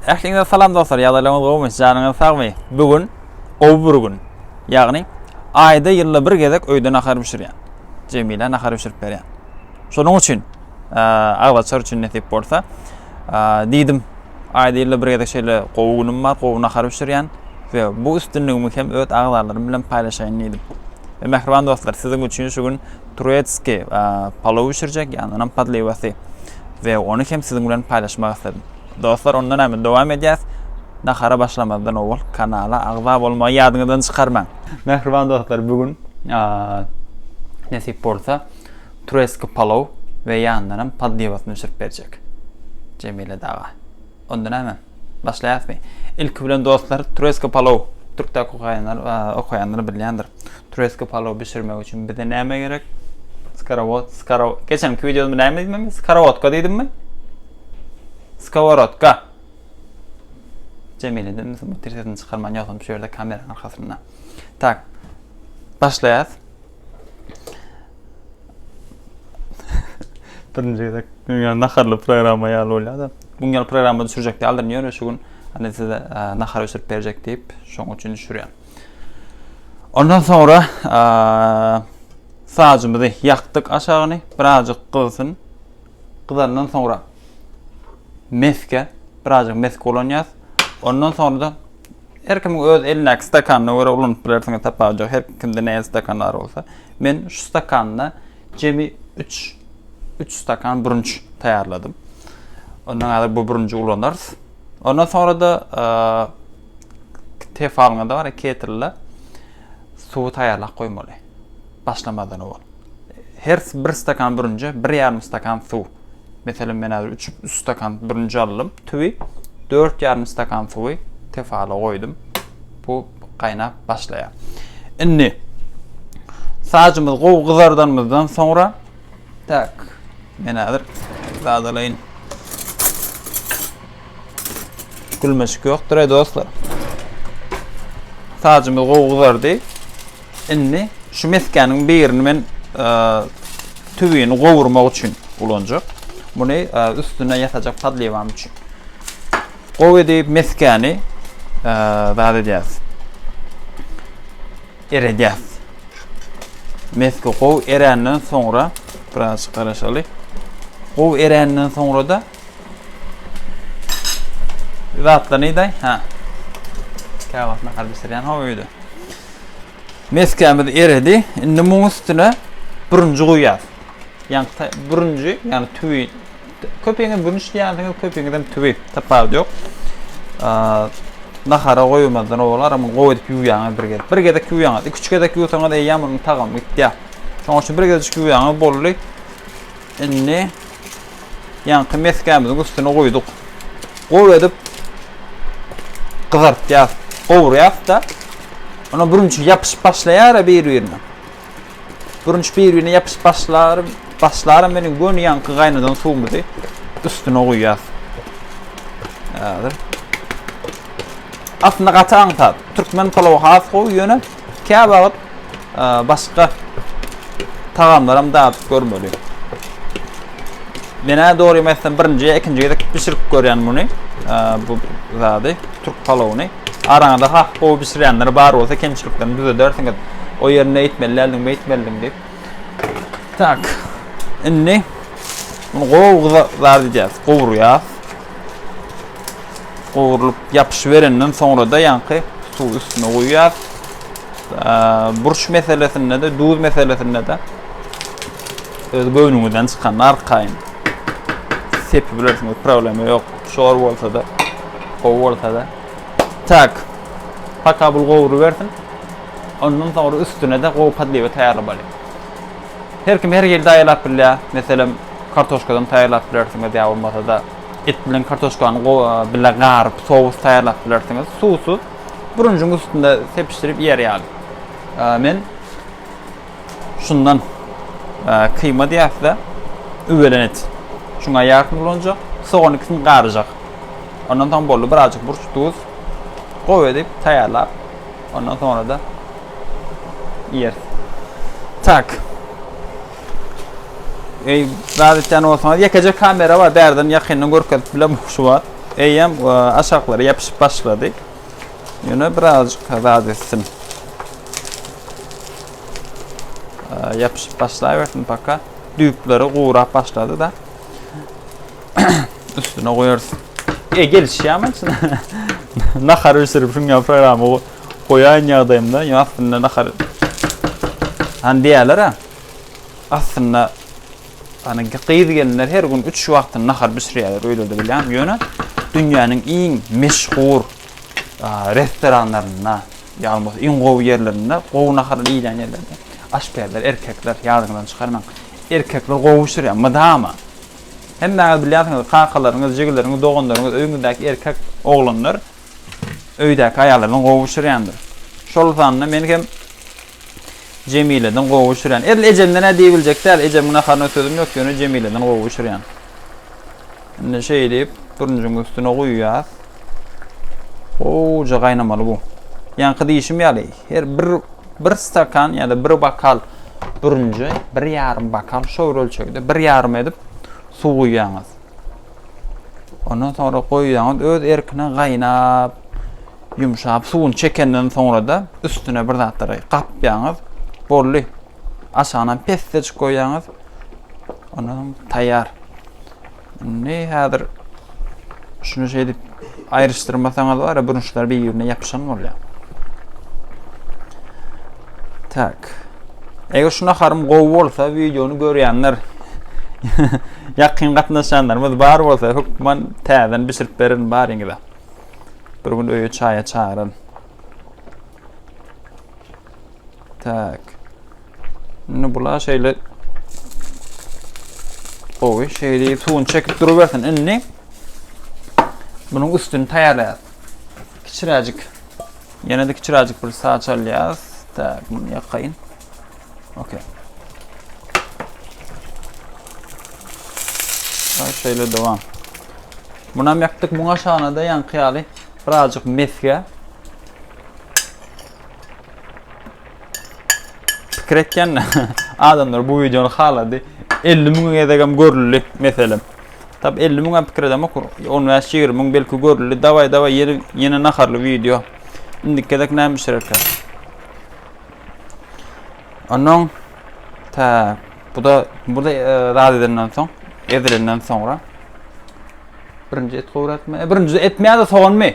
Ähliňize salam dostlar, ýagdaýlaryňyz gowumy, janyňyz sagmy? Bu gün gowy bir gün. Ýagny aýda ýylda bir gezek öýde nahar bişirýän. Jemilä nahar bişirip berýän. Şonuň üçin aglaçar üçin nesip bolsa, diýdim, aýda ýylda bir gezek şeýle gowy günüm bar, gowy nahar bişirýän we bu üstünligimi hem öz agzalarym bilen paýlaşaýyn diýdim. Mähriban dostlar, siziň üçin şu gün Turetski palow bişirjek ýandanam podlewasy we ony hem siziň bilen paýlaşmak isledim. Dostlar onda näme dowam edýäs. Nahara başlamazdan owal kanala agza bolmagy ýadyňyzdan çykarmaň. Mähriban dostlar bu gün nesip bolsa turetski palow we ýandanam podlewasyny bişirip berjek Jemile daga. Onda näme? Başlaýasmy? Ilki bilen dostlar, tröska palow. Türkde okaýanlar, okaýanlar bilýändir. Tröska palow bişirmek üçin bize näme gerek? Skarowot, skaro. Geçenki wideomda näme diýdim men? Skarowotka diýdimmi? Skoworotka. Cemile dedim, bu tirsesini çykarman ýogsam şu ýerde kameranyň arkasynda. Tak. Başlaýas. Birinci gezek yani naharlı programma ýaly bolýar-da. Bu ýaly programma düşürjek ýalydym ýöne şu gün hani size e, nahar ösürip berjek diýip, şoň üçin düşürýän. Ondan sonra e, sacymyzy ýakdyk aşagyny, birazjyk gyzsyn. Gyzandan sonra meske, birazjyk meske ulanýas. Ondan sonra da Her kimiň öz elindäki stakanyna görä ulanyp bilersiňiz, tapawudy ýok. Her kimde nähili stakan bar bolsa. Men şu stakanda jemi üç, üç stakan bürünç taýýarladym. Ondan häzir bu bürünji ulanarys. Ondan soňra-da tefalyňyzda bar, ketrle suwy taýýarlap goýmaly. Başlamadan owal. Her bir stakan bürünje bir ýarym stakan suw. Meselem men häzir 3 stakan bürünje aldym. Tüwi 4 ýarym stakan suwy tefala goýdum. Bu gaýnap başlaýar. Indi sacymyz gowy gyzardanymyzdan soňra tak men häzir zadalaýyn. Gülmeşik ýokdur ey dostlar. Sacymyz gowy gyzardy. Indi şu meskäniň birini men e, tüwini gowurmak üçin ulanjak. Muny e, üstüne ýasajak padliwam üçin. Gowy edip meskäni e, zat edýäs. Eredýäs. Meske gowy erenden soňra biraz garaşaly. Gowy erenden soňra da Zatlar neydi? Ha. Kâbasına kadar bitirýän ha öýde. Meskämiz eredi. Indi muň üstüne bürünji goýýas. Ýani bürünji, ýani tüwi. Köpiňiz bürünç diýýänsiňiz, köpiňiz hem tüwi. Tapawut ýok. Nahara goýulmazdan owal aramyň gowy edip ýuwýaňyz bir gezek. Bir gezek ýuwýaňyz. 2-3 gezek ýuwsaňyz eýýäm onuň tagamy gitýär. Şoň üçin bir gezek ýuwýaňyz boldy. Indi Ýaňky mesgämiziň üstüne guýduk. Gowy edip gyzartýas, gowurýas-da, ondan bürünç ýapyşyp başlaýar-a bir-birine. Bürünç bir-birine ýapyşyp başlar, başlaram meniň göni ýaňky gaýnadan suwumyzy üstüne guýýas. Häzir. Aslynda gaty aňsat. Türkmen palawy has gowy, ýöne Käwagt başga tagamlaram dadyp görmeli. Menä dogry mesden birinji ýa ikinji gezek bişirip görýän muny. Bu zady türk palawyny. Araňyzda ha gowy bişirýänler bar bolsa kemçiliklerini düzedersiňiz. O ýerine etmeli däldiň, beýtmeldiň diýip. Tak. Indi bunu gowy gyza zar diýýäs. Gowurýas. gowrulyp ýapyşyberenden soňra-da ýaňky suw üstüne guýýar. Burç meselesinde-de, duz meselesinde-de öz göwnüňizden çykan arkaýyn sepip bilersiňiz, problema ýok. Şor bolsa-da, gowy bolsa-da. Tak. Paka bul gowrubersin. Ondan soňra üstüne-de gowy podliwa taýýarlamaly. Her kim her hili taýýarlap bilýär. Meselem, kartoşkadan taýýarlap bilersiňiz ýa bolmasa-da et bilen kartoşkany bile garyp, sous taýýarlap bilersiňiz. Sousy bürünjiň üstünde sepişdirip iýer ýaly. Men şundan kyýma diýäs-de, üwelen et. Şuňa ýarsyny ulanjak, sogan ikisini garyjak. Ondan soň boldy, birazjyk burç, duz gowy edip taýýarlap Ondan sonra da yer. Tak. Ey, rahat etýän bolsaňyz, ýekeje kamera bar, bärden ýakyndan görkezip bilemok şu wagt. Eýýäm e, aşaklara ýapyşyp başlady. Ýöne birazjyk rahat etsin. E, ýapyşyp başlaýbersin paka. Düýpleri gurap başlady da. Üstüne koyarız. E gelişýär ama içine. nahar bişirip şuňa programma koýan ýagdaýymda ýa aslynda nahar han diýerler ha. Aslynda hani gyz gelinler her gün 3 wagtyny nahar bişirýärler öýlerde bilýän. Ýöne dünýäniň iň meşhur restoranlarynda ýa bolmasa iň gowy ýerlerinde gowy nahar iýilýän ýerlerde aşpezler erkekler ýadyňyzdan çykarmaň. Erkekler gowy bişirýär mydama. Hemmäňiz bilýänsiňiz, kakalaryňyz, jigileriňiz, doganlaryňyz, öýüňizdäki erkek oglanlar öýdäki aýaly bilen gowy bişirýändir. Şol sanda men hem Jemileden gowy bişirýän. Edil ejemden-ä diýibiljek däl, ejemiň naharyna sözüm ýok, ýöne Jemileden gowy bişirýän. Indi şeýdip, bürünjiň üstüne guýýas. Gowja gaýnamaly bu. Ýaňky diýişim ýaly, her bir bir stakan ýa-da bir bokal bürünje, bir ýarym bokal, şo bir ölçegde bir ýarym edip suw guýýaňyz. Ondan soňra goýýaňyz, öz erkine gaýnap, ýumşap, suwuny çekenden soňra-da üstüne bir zatlary gapýaňyz, boldy. Aşagyna pessejik goýýaňyz, ondan soň taýýar. Indi häzir şuny şeýdip aýryşdyrmasaňyz bar ya burunçlar bir-birine ýapyşan bolýar. Tak. Eger şu naharym gowy bolsa, videony görýänler, ýakyn gatnaşanlarymyz bar bolsa, hökman täzeden bişirip berin baryňyza. Bir gün öýe çaýa çagyryn. Tak. Indi bula şeýle gowy, şeýle suwuny çekip durubersin. Indi bunuň üstüni taýýarlaýarys. Kiçiräjik. Ýene-de kiçiräjik bir saç alýarys. Tak, muny ýakaýyn. Okey. Ay şöyle devam. Bunam yaktık. Buna şanada yankı yalı. Birazcık mesge. Pikir etýän adamlar bu videony halady. 50 müň gezegem görüldi meselem. Tab 50 müň pikir edem okur. 15-20 müň belki görüldi. Daway daway ýene ýene naharly video. Indiki gezek näme bişirerkä? Ondan ta bu da bu da e, rad edenden soň, edilenden soňra birinji et gowratma. E, birinji etmeýär-de soganmy?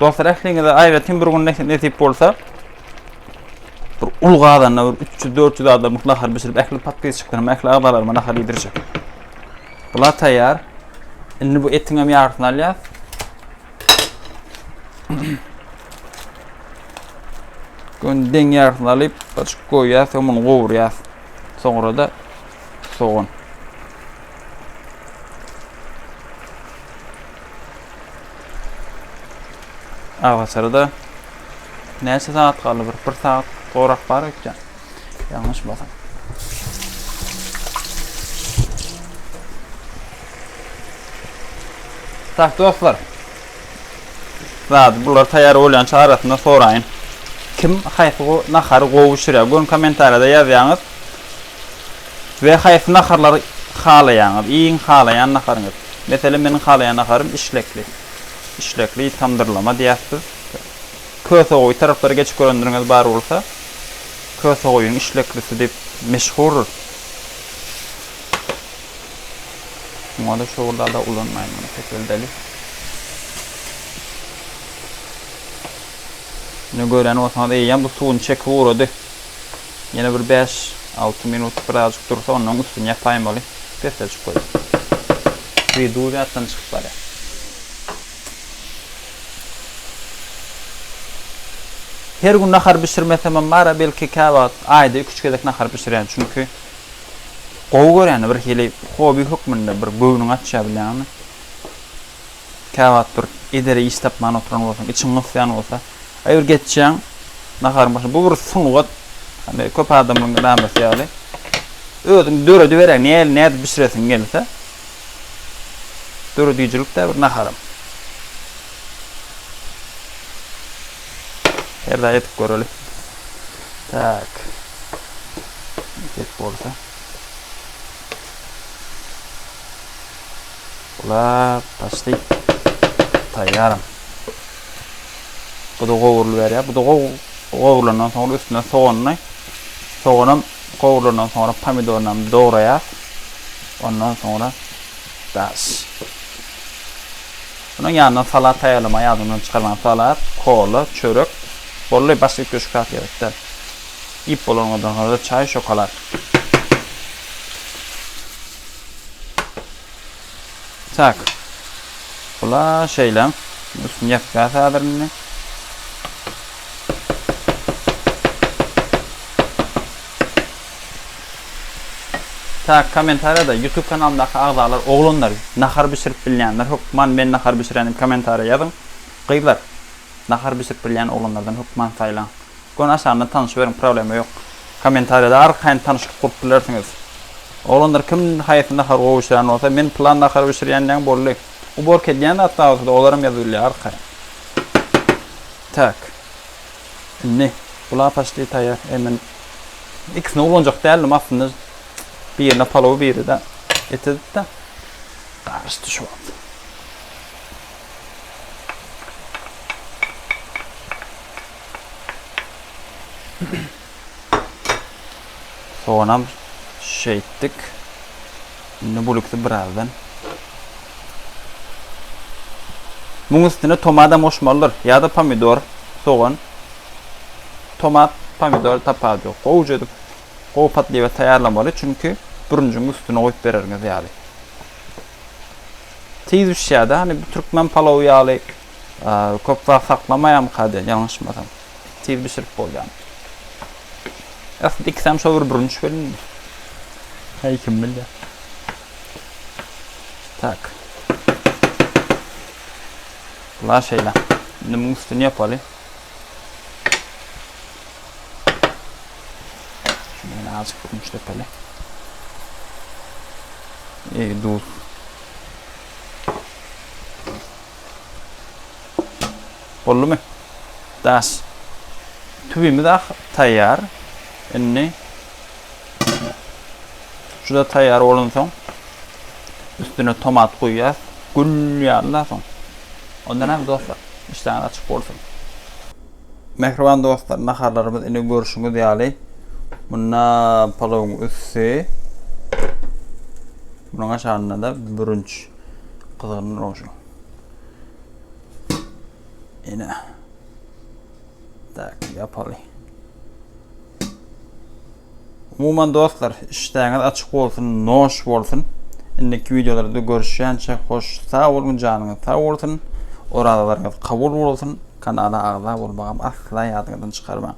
Dostlar, ähliňize aýratyn bir gün nesip bolsa, bir ul gazanda bir 300-400 adamlyk nahar bişirip, ähli podpisçiklaryma, ähli agzalaryma nahar iýdirjek. Bular taýýar. Indi bu etiň hem ýarysyny alýas. Gün deň ýarysyny alyp, açyk goýýas, soň muny gowurýas. Soňra da sogan. Awaçaryda näçe saat galdy? Bir, bir saat gorak bar ekýän. Ýalňyşmasam. Tak dostlar. Zat bular taýýar bolýança arasynda soraýyn. Kim haýsy nahary gowy bişirýär? Gön kommentariýada ýazýaňyz. We haýsy naharlary halaýaňyz? Iýiň halaýan naharyňyz. Meselem meniň halaýan naharym işlekli. Işlekli tamdyrlama diýýäs biz. Kösegoýy taraplary geçip görendiriňiz bar bolsa, kösegoýyň işleklisi diýip meşhurdyr. Muňada şowulada ulanmaýyn muny peseldeli. Ine gören bolsaňyz eýýäm bu suwuny çekip ugrady. Ýene bir bäş, alty minut birazjyk dursa, ondan soň üstüni ýapaýyn boly, pessejik goý. Bi duý zatdan çykyp barýar. Her gün nahar bişirmesemem bar-a, belki käwagt aýda iki-üç gezek nahar bişirýän. Çünki gowy görýän, birhili hobi hökmünde bir göwnüňi açýar bilýäňmi? Käwagt bir edere iş tapman oturan bolsaň, içiň gysýan bolsa, aý bir geçýäň naharyň başyna. Bu bir sungat. Hany köp adamlaryň edamesi ýaly. Özüň dörediberäý, näl nädip bişiresiň gelse. Döredijilikdä bir naharam. Her daýy edip göreli. Tak. Edip bolsa. Bular başda taýýaram. Bu da gowrulyp berýär. Bu da gowrulandan soňra üstüne soganyny, soganam gowrulandan soňra pomidoryny hem dograýar. Ondan soňra daş. Bunun ýanyna salat taýýarlama ýadyndan çykarman salat, kola, çörek. Bolly başga üç köşk zat gerekde. Ip bolanlardan soňra çaý, şokolad. Tak. Bula şeýle. Üstüni ýapýas häzir indi. Tak, kommentariýada YouTube kanalymdaky agzalar, oglanlar, nahar bişirip bilýänler, hökman men nahar bişirenim kommentariýa ýazyň. Gyzlar, nahar bişirip bilýän oglanlardan hökman saýlaň. Göni aşagyndan tanyşyberiň problema ýok. Komentariýada arkaýyn tanyşlyk gurup bilersiňiz. Oglanlar kim haýsy nahary gowy bişirýän bolsa men plan nahary bişirýän diýäň boldy. Uborka edýän zat zat bolsada olaram ýazyp bilýär arkaýyn. Tak. Indi bu la paşti taýýar. Eý men ikisini ulanjak däldim aslynda. Birine palow biride et edipde. Garyşdy şu wagt. Soğanam şeýtdik. Indi bulukdy birazdan. Bunun üstüne tomadam oşmalydyr. Ya da pomidor, soğan. Tomat, pomidor tapar yok. Gowuca edip gowy patlywa taýýarlamaly. Çünki bürünjiň üstüne goýup bererňiz ýaly. Tiz bişýär-de, hani bu türkmen palowy ýaly köp wagt saklamaýamyka diýen ýalňyşmasam. Tiz bişirip bolýan. Aslynda ikisem şo bir bürünç welin. Heý kim bilýär. Tak. La şeýle. Indi muň üstüni ýapaly. Şeýle azjyk bürünç depeli. Eý duz. Boldumy? Das. Tüwimiz ah taýýar. Indi şuda taýýar bolansoň üstüne tomat goýýas. Gül ýaly soň. Ondan hem dostlar, işläňiz açyk bolsun. Mähriban dostlar, naharlarymyz indi görşüňiz ýaly. Munda palawyň üsti. Munuň aşagynda-da bürünç. Gyzgyn rožu. Ene. Tak, yapaly. Umuman dostlar, işdäňiz açyk bolsun, noş bolsun. Indiki videolarda görüşýänçä hoş sag bolun, janyňyz sag bolsun. Orazalarňyz kabul bolsun. Kanala agza bolmagam asla ýadyňyzdan çykarmaň.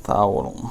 Sag bolun.